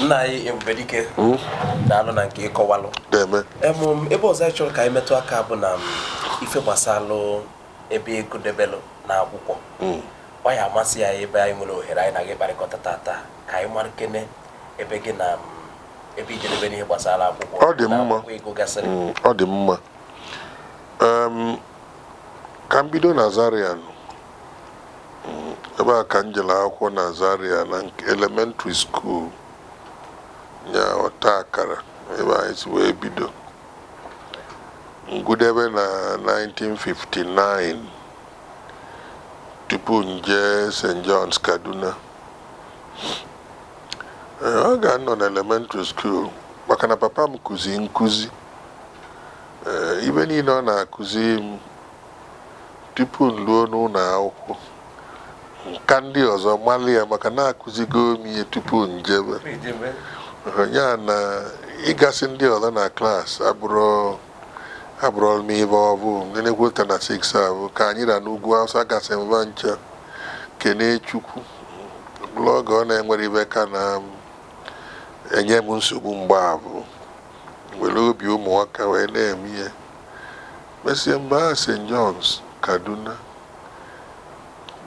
nna anyị ebube dike hmm? daalụ na nke ị kọwalụ ebe ọzọ anyị chọrọ ka anyị metụ aka bụ na ife gbasalụ ebe ị gụdebelụ na akwụkwọ hmm. ọ ya-amasị ya ebe anyị nwere ohere anyị na gị ịkparịkọta tata ka anyị mara kene ebe gị na ebe i jedebelụ n'ihe gbasara akwụkwọ ọ dị mma ị gụgasịrị hmm, ọ dị mma ka m bido na Zaria ebe a ka m jere akwụkwọ na Zaria na elementary school nya ọta akara ebe anyị si wee bido m gụdebe na 1959 tupu m jee St. John's Kaduna Ee, oge m nọ na elementary school maka na papa m kụzi nkụzi Ee, ive niile ọ na-akụzi m tupu m ruo n'ụlọ akwụkwọ m ka ndị ọzọ mara ya maka na a kụzigo m ihe tupu m jebe ya na ịgasị ndị ọzọ na klaasị abụrọ m ive ọ bụ na-ekweta na 6 avụ ka anyị ra n'Ugwu Awụsa agasị m va ncha kene Chukwu bụrụ oge ọ na-enwerọ ive ka na-enye m nsogbu mgbe avụ e were obi ụmụaka wee na-eme ihe Mesịa m baa St. John's, Kaduna,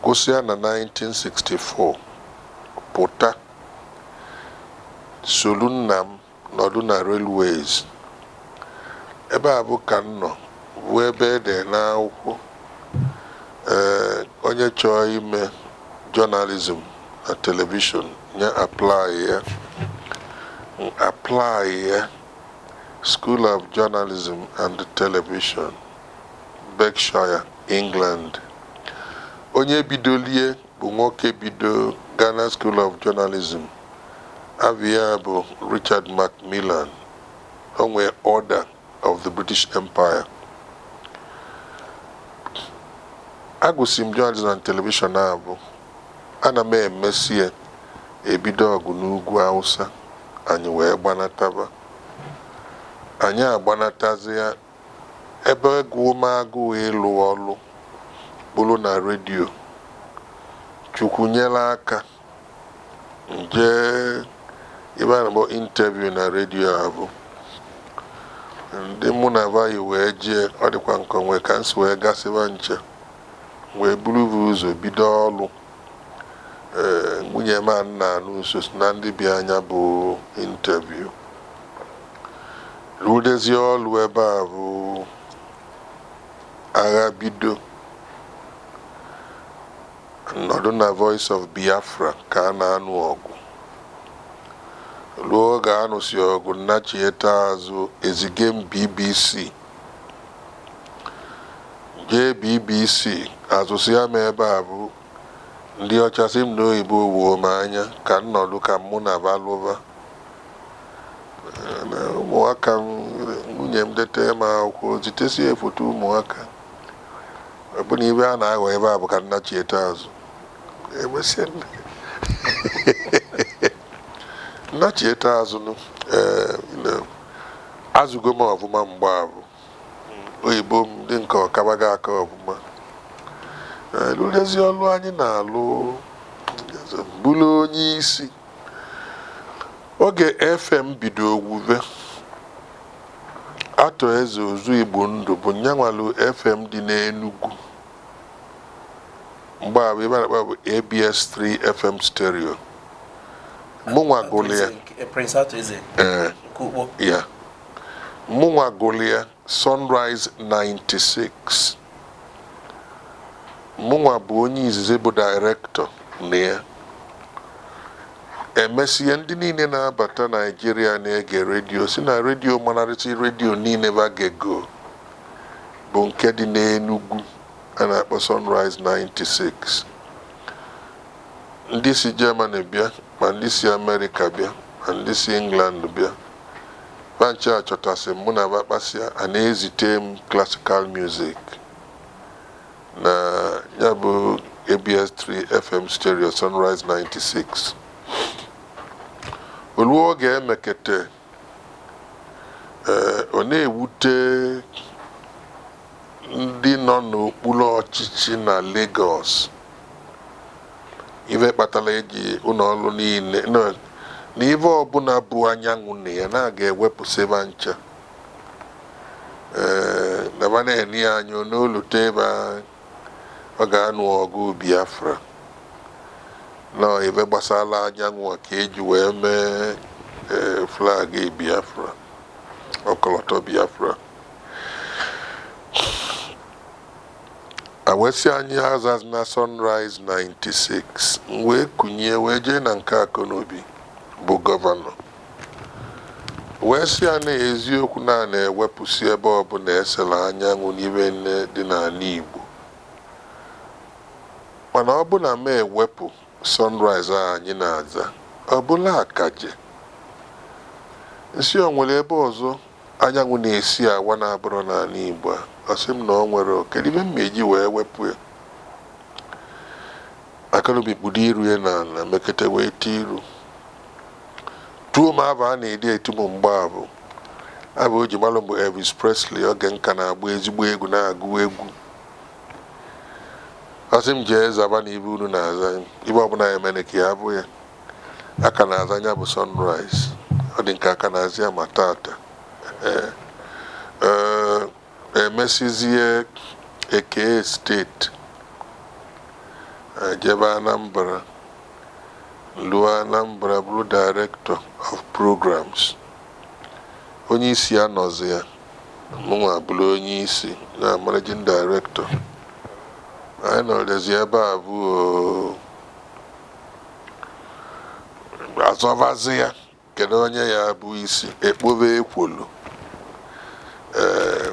gụsịa na 1964, pụta soro nna m nọdụ na Railways. Ebe avụ ka m nọ, vụ ebe e dere n'akwụkwọ ee onye chọọ ime journalism na telivishọn ya apply ya. M apply ya. School of Journalism and Television, Berkshire, England. Onye bidolu ya bụ nwoke bido Ghana School of Journalism. Ava ya bụ Richard Macmillan. O nwee Order of the British Empire. Agụsị m Journalism and Television avụ Ana m emesi ya e bido ọgụ n'Ugwu Awụsa, anyị wee gbanataba. Anyị agbanatazịa, ebe gụụ m agụụ ịlụ ọlụ bụrụ na redio, Chukwu nyere aka, m jee ebe a na-akpọ interview na redio avụ. Ndị mụ na va yi wee jee, ọ dịkwa m ka o nwee ka m si wee gasị va ncha. wee buru ụzọ bido ọlụ. Ee, nwunye m a na-anụ sosi na ndị bịa nya bụ interview. Rụdezie ọrụ ebe abụ agha bido. Nọdụ na Voice of Biafra ka a na-anụ ọgụ. Ruo oge a nụsị ọgụ m nachieta azụ ezige m BBC jee bbc azụsịa m ebe abụ ndị ọcha sị m na oyibo woo m anya ka m nọdụ ka mụ na ba lụba ụmụaka m nwunye m dete m akwụkwọ zitesie foto ụmụaka ọbụna ibe a na-aghọ ebe abụ ka m nachieta azụ emesịa m nachieta azụ nụ ee Azụgo m ọfụma mgbe abụ. Oyibo m dị nke ọ kabaga aka ọfụma. Eh, lụdezie ọlụ anyị na-alụ m bụrụ onye isi. Oge FM bido wuve, Arthur Eze Ọzọ Igbo Ndụ bụ nya nwelụ FM dị n'Enugwu. mgbe abụ ife a na-akpọ ya bụ ABS3 FM stereo mụnwa gụlụ ya eh, Prince Arthur Eze ee nke Ukpo ya mụnwa gụlụ ya Sunrise 96 mụnwa bụ onye izizi bụ dairektọ na ya emesịa ndị niile na-abata naijiria na-ege redio si na redio manarịsị redio niile ba gego bụ nke dị n'Enugwu a na-akpọ Sunrise 96 ndị si Germany bịa ma ndị si Amerịka bịa ma ndị si England bịa ba ncha achọtasị m mụ na ba kpasịa a na-ezite m classical music na ya bụ ABS3 FM stereo Sunrise 96 o luo oge emekete Ee, ọ na-ewute ndị nọ n'okpuru ọchịchị na Lagos ife kpatara eji ụlọ ọrụ niile na- na ife ọbụla bu anyanwụ na ya na a ga-ewepụsị ba ncha ee na ba na-ene ya anya na o lute ebe a Oge a nụ ọgụ Biafra. Na ọ ife gbasara anyanwụ ka eji wee mee flag Biafra, ọkọlọtọ Biafra. E wee sị anyị azazina Sunrise 96, m wee kunie wee jee na nke Akọnobi bụ gọvanọ. Wee sị ya na eziokwu na a na-ewepụsị ebe ọbụla e sela anyanwụ n'ibe nine dị n'ala Igbo. Mana ọ bụ na m ewepụ sunrise a anyị na-aza, ọ bụrụ akaje. Nsị o nwere ebe ọzọ anyanwụ na-esi awa na-abụrọ n'ala Igbo a? Ọ sị m na o nwerọ. Kedu ibe m ma-eji wee wepụ ya? Akọnobi kpudo iru ya n'ala mekata welite iru. Tuo m aba a na-adị etu m mgbe abụ aba o ji malụ m bụ Elvis Presley oge m ka na-agba ezigbo egwu na-agụ egwu. Ọ sị m jee zaba na ibe unu na-aza ibe ọbụla ya mere ka ya bụ ya. A ka na-aza nya bụ Sunrise. Ọ dị ka a ka na-aza ya ma tata. Ee. Ee. emesịzie e kee steeti anyị jebe Anambra luo Anambra bụrụ director of programs onye isi anọzi ya mụnwa bụrụ onye isi na managing director anyị nọrọzi ebe abụ a zọvazi ya Kedụ onye ya-abụ isi e kpobe ekwolo? Ee,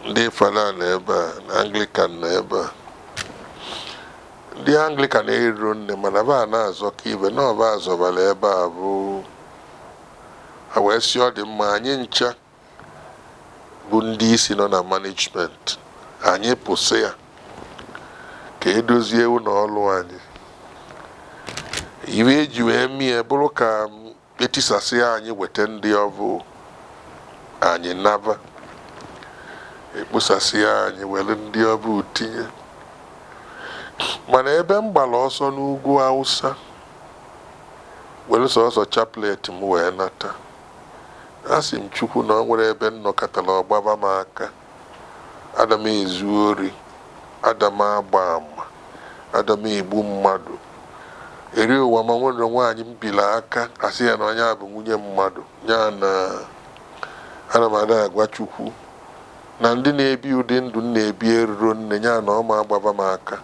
ndị Fada nọ ebe a, na Anglican nọ ebe a. Ndị Anglican eriro nne mana ba na-azọ ka ibe na ọba azọbara ebe abụ a wee sị ọ dị mma anyị ncha bụ ndị isi nọ na management anyị pụsịa ka e dozie ụlọ ọrụ anyị ibe e ji wee mie bụrụ ka e tisasịa anyị weta ndị ọbụ anyị naba e kposasịa anyị were ndị ọbụ tinye mana ebe m gbara ọsọ n'ugwu Awụsa were sọsọ chaplet m wee nata Asị m Chukwu na o nwerọ ebe m nọkatara ọ gbaba m aka. Ada m ezu ori, ada m agba ama, ada m egbu mmadụ. Eri ụwa m a o nwerọ nwaanyị m biri aka asị ya na onye a bụ nwunye mmadụ. Ya na ana m adị agwa Chukwu na ndị na-ebi ụdị ndụ m na-ebi eruro nne ya na ọ ma agbaba m aka.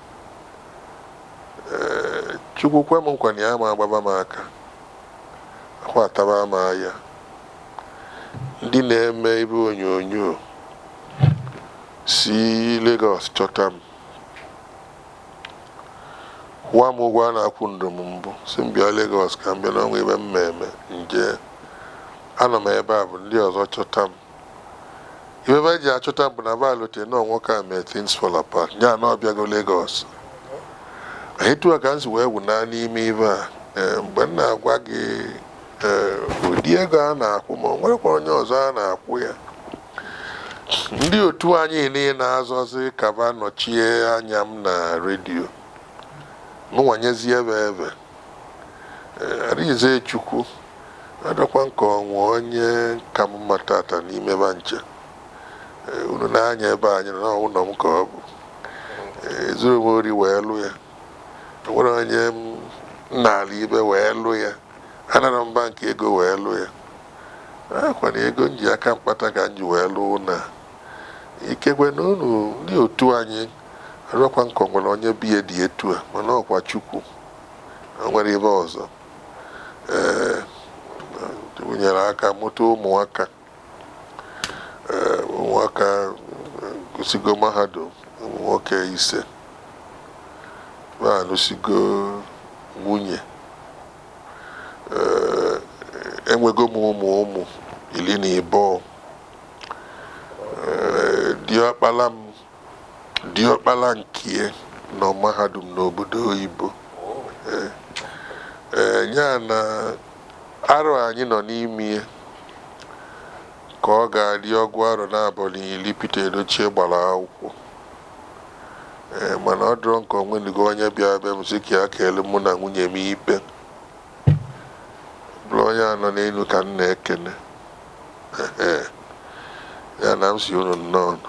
Ee, Chukwu kwe m nkwa na ya ma agbaba m aka. akwa ataba m anya ndị na-eme ibe onyonyo si Lagos chọta m kwụwa m ụgwọ a na-akwụrọ m mbụ sị m bịa Lagos ka m bịa na o nwe ibe m ma-eme nje anọ m ebe abụ ndị ọzọ chọta m Ife ba ji achọta m bụ na ba lote na ọ nwoke a mee things fall apart ya na ọ bịago Lagos etu a ka m si wee wụ na n'ime ife a ee, mgbe m na-agwa gị ee, ụdị ego a na-akwụ ma o nwerekwa onye ọzọ a na-akwụ ya ndị otu anyị niile na-azọzi ka ba nọchie anya m na redio mụnwa nyezie ba efe Eh, Arinze Chukwu adọkwa nke o nwe onye ka m mma tata n'ime ba ncha Eh, unu nee anya ebe anyị nọ na ọ wụ ụnọ m ka ọ bụ Eh, ezurọ m ori wee lụ ya o nwerọ onye m naalị ibe wee lụ ya anarọ m bank ego wee lụ ya ọkwa na ego m ji aka m kpata ka m ji wee lụ na ikekwe na unu ndị otu anyị arọkwa nke o nwere onye be ya dị etu a mana ọkwa Chukwu o nwerọ ibe ọzọ ee Chukwu nyere aka mụta ụmụaka ee ụmụaka gụsigo mahadum ụmụ nwoke ise ba anụsigo nwunye ee enwego m ụmụ ụmụ iri na ịbụọ ee diọkpala m diọkpala nkie nọ mahadum n'obodo oyibo ee ee ya na arọ anyị nọ n'ime ya ka ọ ga-adị ọgụ arọ naabọ na iri Pete Edochie gbara akwụkwọ ee mana ọ dịrọ nke o nwenugo onye bịa be m sị ka ya kpeelụ mụ na nwunye m ikpe bụrụ onye a nọ n'enu ka m na-ekene ya na m sị unu nnọọnụ